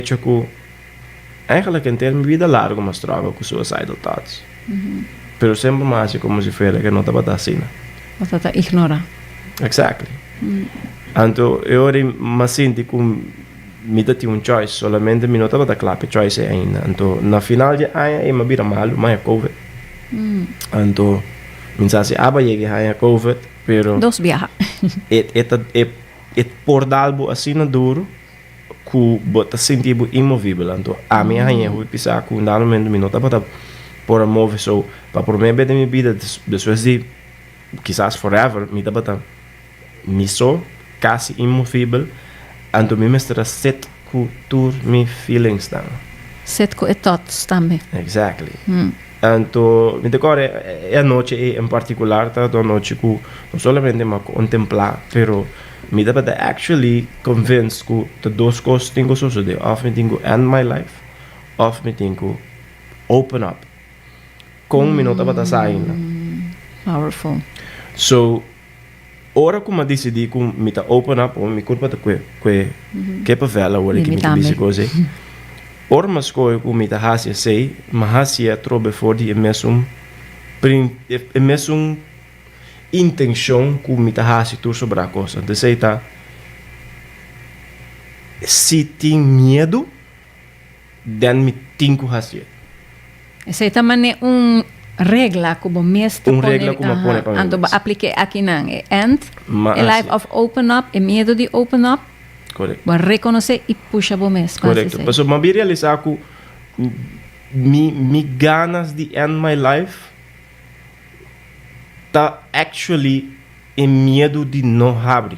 Hecho cu eigenlijk en ter mi vida largo mi a struggle cu suicidal thoughts. Pero semper mi a haci como si fuera que no tabata asina. Tabata ta ignora. Exactly. Anto e ora mi a sinti cu mi ta tin un choice, solamente mi no tabata cla pa e choice ei ainda. Anto na final di e aña ei mi a bira malu, mi a haña covid. Anto mi sa si aba yega e haña covid, pero. Dos biaha. E ta e por dal bo asina duro. ku bo ta sinti bo inmovibel anto ami a haña hopi sa ku unda momentu mi no tabata por a move so pa promé be den mi bida despues di kisas forever mi tabata mi so kasi inmovibel anto mi mester a sit ku tur mi feelingsnan. Sit ku e thoughts tambe. Exactly anto mi ta kòrda e anochi ei en partikular tabata un anochi ku no solamente mi a kontemplá pero Mi tabata actually convinced cu ta dos cos tin cu sosode, of mi tin cu end my life of mi tin cu open up. Con mi no tabata sa ainda. Powerful. So, ora cu mi a dicidi cu mi ta open up, oh, mi curpa ta cu e ke pavel awor aki mi ta bici cu esey. Ora mi a scoge cu mi ta haci esey, mi a hacia trobe for di e mesun e mesun intenshon ku mi ta hasi tur soba da kos. Anto esei ta, si tin miedu, den mi tin ku hasié. Esei ta man'é un regla ku bo mes ta pone. Un regla ku mi a pone pa mi mes. Anto bo apliké akinan e ènt, e life of open up, e miedu di open up. Korek. Bo a rekonosé i pusha bo mes pa hasi esei. Korekto. Pasobra mi a bin realisá ku mi ganas di ènt my life ta actually e miedu di no habri.